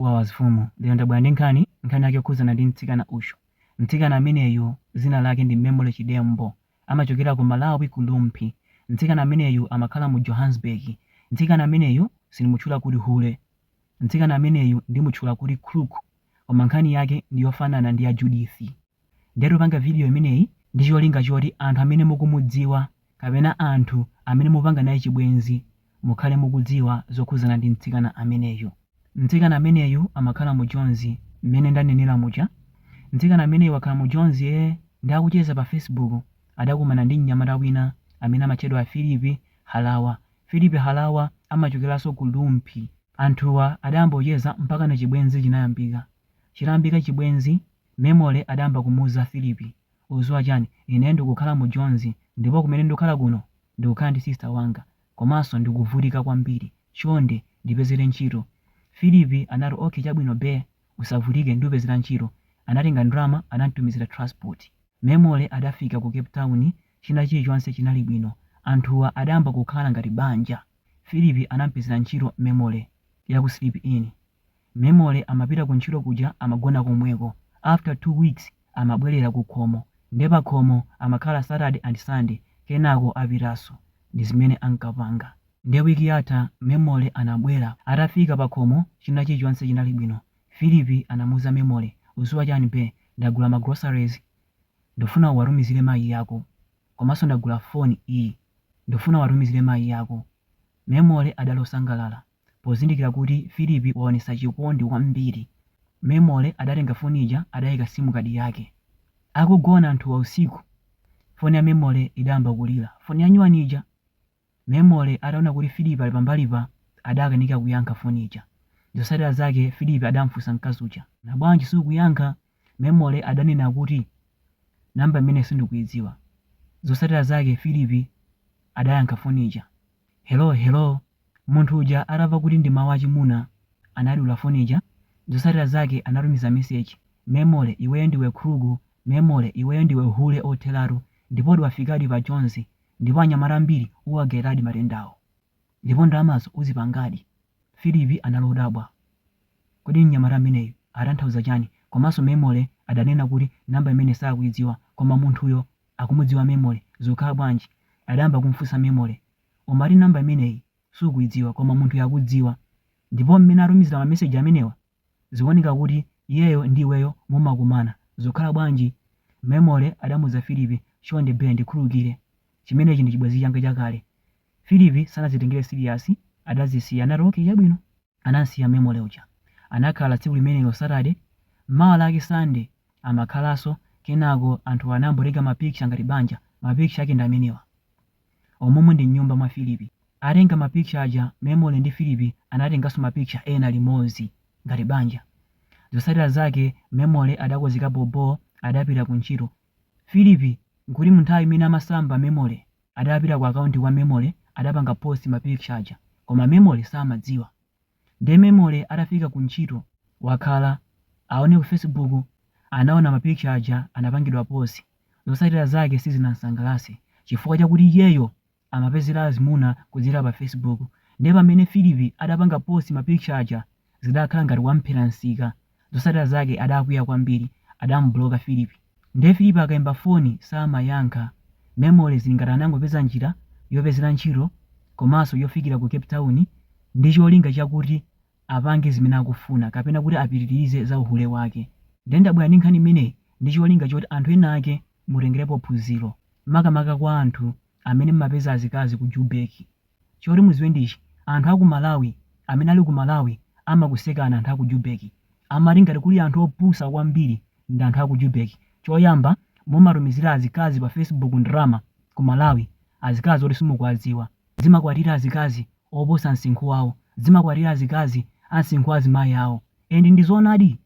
Wawa Fumu lero ndabwera ndi nkhani, nkhani yake yokhudzana ndi mtsikana uyu. Mtsikana ameneyu dzina lake ndi Memory Chidembo, amachokera ku Malawi ku Rumphi. Mtsikana ameneyu amakhala mu Johannesburg. Mtsikana ameneyu sindimutchula kuti hule. Mtsikana ameneyu ndimutchula kuti crook. Koma nkhani yake ndi yofanana ndi ya Judith. Ndiye tikupanga video imeneyi ndi cholinga choti anthu amene mukumudziwa kapena anthu amene mukupanga naye chibwenzi mukhale mukudziwa zokhudzana ndi mtsikana ameneyu. Mtsikana ameneyu amakhala mu Jonzi mmene ndanenera muja. Mtsikana ameneyu wakhala mu Jonzi ee ndiye akucheza pa Facebook adakumana ndi mnyamata wina amene amatchedwa Phillip Harawa. Phillip Harawa amachokeranso ku Rumphi. Anthuwa adayamba kucheza mpakana chibwenzi chinayambika. Chitayambika chibwenzi Memory adayamba kumuuza Phillip, Ukuziwa chani, ine ndikukhala mu Jonz ndipo kumene ndikukhala kuno ndikukhala ndi sister wanga komanso ndikuvutika kwambiri chonde ndipezere ntchito. Phillip anati okay chabwino beh usavutike ndupezera ntchito. Anatenga ndalama anamtumizira transport. Memory adafika ku Cape Town china chilichonse chinali bwino anthuwa adayamba kukhala ngati banja. Phillip anampezera ntchito Memory ya ku Sleep In Memory amapita ku ntchito kuja amagona komweko after 2 weeks amabwelera ku khomo nde pakhomo amakhala Saturday and Sunday kenako apitaso ndizimene ankapanga nde week yatha Memory anabwera atafika pakhomo china chilichonse chinali bwino Philip anamuuza Memory uziwa chani be ndagula ma groceries ndufuna uwatumizire mayi ako komaso ndagula phone iyi ndufuna uwatumizire mayi ako Memory adali osangalala Pozindikira kuti Filipi waonetsa chikondi kwambiri, Memory adatenga foni ija adaika sim card yake. Akugona anthuwa usiku, foni ya Memory idayamba kulira. Foni ya nyuwani ija! Memory ataona kuti Filipi ali pambalipa adakanika kuyankha foni ija. Zotsatira zake Filipi adamufunsa mkazi uja. Bwanji sukuyankha? Memory adanena kuti, Number imeneyi sindikuidziwa. Zotsatira zake Filipi adayankha foni ija. Hello, hello. Munthu uja atamva kuti ndi mawu achimuna, anadula foni ija. Zotsatira zake anatumiza meseji, Memory, iweyo ndiwe khrugu, Memory, iweyo ndiwe hule otheratu, ndipo wafikadi pa jonzi, ndipo anyamata ambiri uwagawiradi matendawo. Ndipo ndalamazo uzipangadi. Philip anali odabwa. Kodi mnyamata ameneyu atanthauza chani? Komanso Memory adanena kuti number imeneyi sakuidziwa, koma munthuyo akumudziwa memory zokhala bwanji adayamba kumfunsa memory umati number imeneyi sukuidziwa koma munthuyu akukudziwa ndipo mmene atumizila ma message amenewa zikuoneka kuti iyeyo ndi iweyo mumakumana zokhala bwanji memory adamuuza Philip chonde bea ndikhululukile chimenechi ndi chibwezi changa chakale Philip sanazitengele serious adazisiya anati okay chabwino anansiya memory uja anakhala tsiku limenelo Saturday mawa lake Sunday amakhalaso kenako anthuwa anangotenga ma picture ngati banja ma picture ake ndi amenewa omumu ndi mnyumba mwa Philip atenga ma picture aja memory ndi Philip anatengaso ma picture ena limodzi ngati banja zotsatira zake memory adakozeka bhobho adapita ku ntchito Philip nkuti munthawi imene amasamba memory adapita ku akaunti kwa memory adapanga post ma picture aja koma memory samadziwa nde memory atafika ku ntchito wakhala aone ku facebook anaona ma picture aja anapangidwa post zosatira zake sizinansangalase chifukwa chakuti iyeyo amapezera azimuna kudzera pa facebook nde pamene Philip adapanga post ma picture aja zidakhala ngati wamphera nsika zosatira zake adakwiya kwambiri adamubloka Philip nde Philip akaimba foni samayankha memory zili ngati anangopeza njira yopezera ntchito komanso yofikira ku Cape Town ndi cholinga chakuti apange zimene akufuna kapena kuti apitilize za uhule wake nde ndabwera ndi nkhani imeneyi ndi cholinga choti anthu ena ake mutengerepo phunziro makamaka kwa anthu amene mmapeza azikazi ku Jubek Choti muziwe ndi ichi anthu aku malawi amene ali ku malawi amakusekani anthu aku Jubek amati ngati kuli anthu opusa kwambiri ndi anthu aku Jubek choyamba mumatumizira azikazi pa Facebook ndalama ku malawi azikazi oti simukuwadziwa zimakwatira azikazi oposa nsinkhu wawo zimakwatira azikazi ansinkhu azimayi awo and ndi zoonadi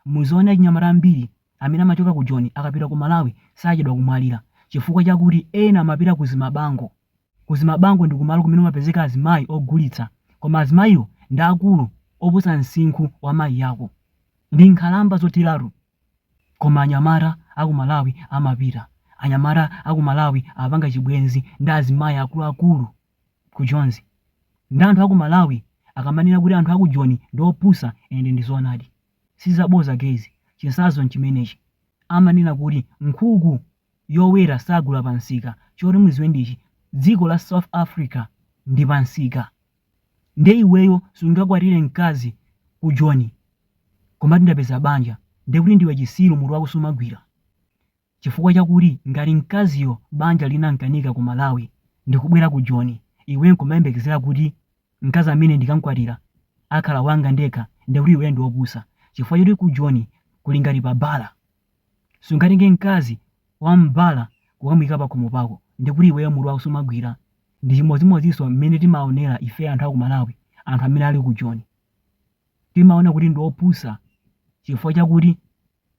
muziona achinyamata ambiri amene amachoka ku Joni akapita ku malawi sachedwa kumwalira chifukwa chakuti ena amapita ku zimabango Ku Zimabango ndi kumalo kumene kumapezeka azimayi ogulitsa koma azimayiwo ndi akulu oposa nsinkhu wa mayi ako. Ndi nkhalamba zotheratu. Koma anyamata a ku Malawi amapita. Anyamata a ku Malawi apanga chibwenzi ndi azimayi akuluakulu ku Jonzi. Nde anthu a ku Malawi akamanena kuti anthu a ku Joni ndi opusa and ndi zoonadi. Si zaboza guyz, chinsazo nchimenechi. Amanena kuti nkhuku yowera sagula pa msika choti muziwe ndi ichi dziko la south africa ndi pa msika nde iweyo sungakwatire mkazi ku joni nkumati ndapeza banja ndekuti ndiwe chisiru mutu wako sumagwira chifukwa chakuti ngati mkaziyo banja linamkanika ku malawi ndikubwera ku joni iwe nkumayembekezera kuti mkazi ameneyu ndikankwatira akhala wanga ndekha ndekuti iweyo ndiopusa chifukwa choti ku joni kuli ngati pa bala Sungatenge mkazi wa m'bala kukamuika pakhomo pako ndikuti iweyo mutu wako sumagwira. Ndi chimodzimodzinso mmene timaonera ife anthu a ku Malawi anthu amene ali ku Joni. Timaona kuti ndi opusa chifukwa chakuti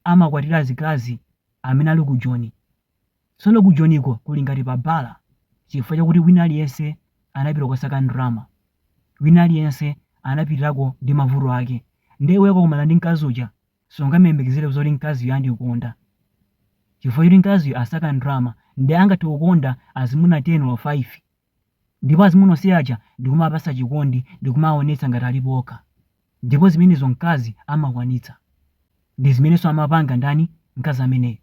amakwatira azikazi amene ali ku Joni. Tsono ku Joniko kuli ngati pa bala chifukwa chakuti wina aliyense anapita kukasaka ndalama. Wina aliyense anapitirako ndi mavuto ake. Ndiye iweyo ukakumana ndi mkazi uja sungamuyembekezere zoti mkaziyo andikonda chifukwa choti mkaziyo asaka ndalama nde angathe kukonda azimuna 10 or 5 ndipo azimuna onse aja ndikumawapasa chikondi ndikumawaonetsa ngati alipo okha ndipo zimenezo mkazi amakwanitsa ndi zimenenso amapanga ndani mkazi ameneyo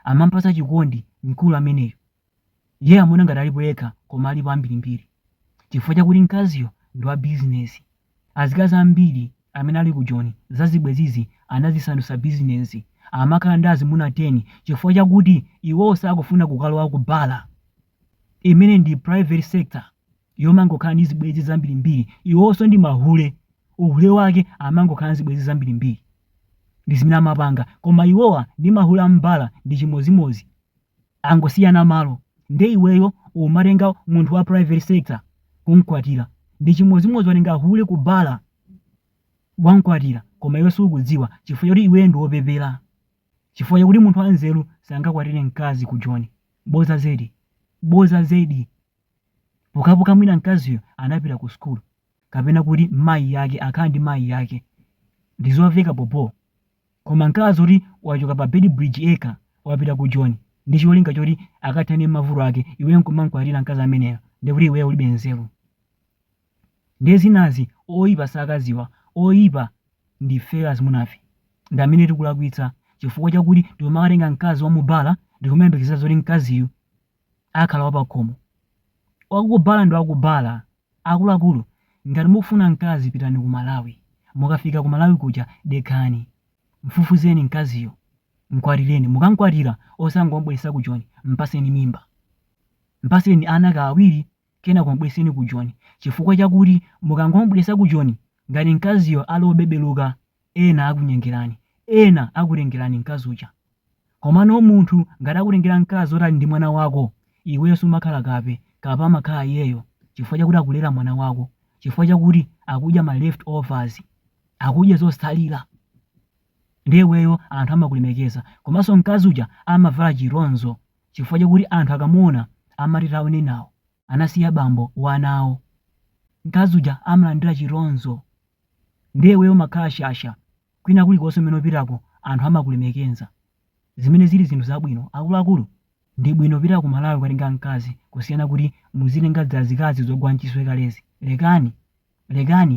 amampasa chikondi mkulu ameneyo Iye amaona ngati alipo yekha koma alipo ambirimbiri chifukwa chakuti mkaziyo ndi wa bizinesi. Azikazi ambiri amene ali ku Joni, zazibwezizi anazisandutsa bizinesi. Amakhala ndi azimuna 10 chifukwa chakuti iwowo sakufuna kukalowa ku bala, imeneyi ndi private sector yomangokhala ndi zibwenzi zambirimbiri. Iwowonso ndi mahule. Uhule wake amangokhala ndi zibwenzi zambirimbiri. Ndi zimene amapanga. Koma iwowa ndi mahule a m'bala ndi chimodzimodzi. angosiyana malo nde iweyo umatenga munthu wa private sector kumkwatira ndi chimodzimodzi watenga hule ku bala wamkwatira koma iwe sukudziwa chifukwa choti iweyo ndi wopepera chifukwa chakuti munthu wanzeru sangakwatire mkazi ku joni boza zedi boza zedi pokapoka mwina mkaziyo anapita ku sukulu kapena kuti mayi yake akhala ndi mayi yake ndizomveka bobo Koma mkazi oti wachoka pa Beitbridge yekha wapita ku joni ndi cholinga choti akathane ndi mavuto ake iweyo nkumankwatira mkazi ameneyo nde kuti iweyo ulibe nzeru nde zinazi oipa sakaziwa oipa ndifeyo azimunafe ndi amene tikulakwitsa chifukwa chakuti tikumakatenga mkazi wa mubala ndikumayembekezera zoti mkaziyu akhala wapakhomo wakubala ndi wakubala Akuluakulu ngati mukufuna mkazi pitani ku Malawi mukafika ku Malawi kuja dekhani mfufuzeni mkaziyo mkwatileni mukankwatila osangom'bweresa ku Joni mpaseni mimba mpaseni ana ka awiri kenako m'bweseni ku Joni chifukwa chakuti mukangom'bweresa ku Joni ngati mkaziyo ali obebeluka Ena akunyengerani. Ena akutengerani mkazi uja. Komano munthu ngati akutengera mkazi oti ali ndi mwana wako, iweyo sumakhala kape. Kape amakhala iyeyo chifukwa chakuti akulera mwana wako, chifukwa chakuti akudya ma left overs, akudya zotsalira. Ndiye iweyo anthu amakulemekeza. Komanso mkazi uja amavala chitonzo chifukwa chakuti anthu akamuona amati taonenawo. anasiya bambo wa ana awo, mkazi uja amalandira chitonzo ndiye iweyo umakhala shasha kwina kulikonse kumene upitako anthu amakulemekeza zimene zili zinthu zabwino akuluakulu ndi bwino kupita ku Malawi kukatenga mkazi kusiyana kuti muzitenga zazikazi zogwa mchiswe kalezi lekani lekani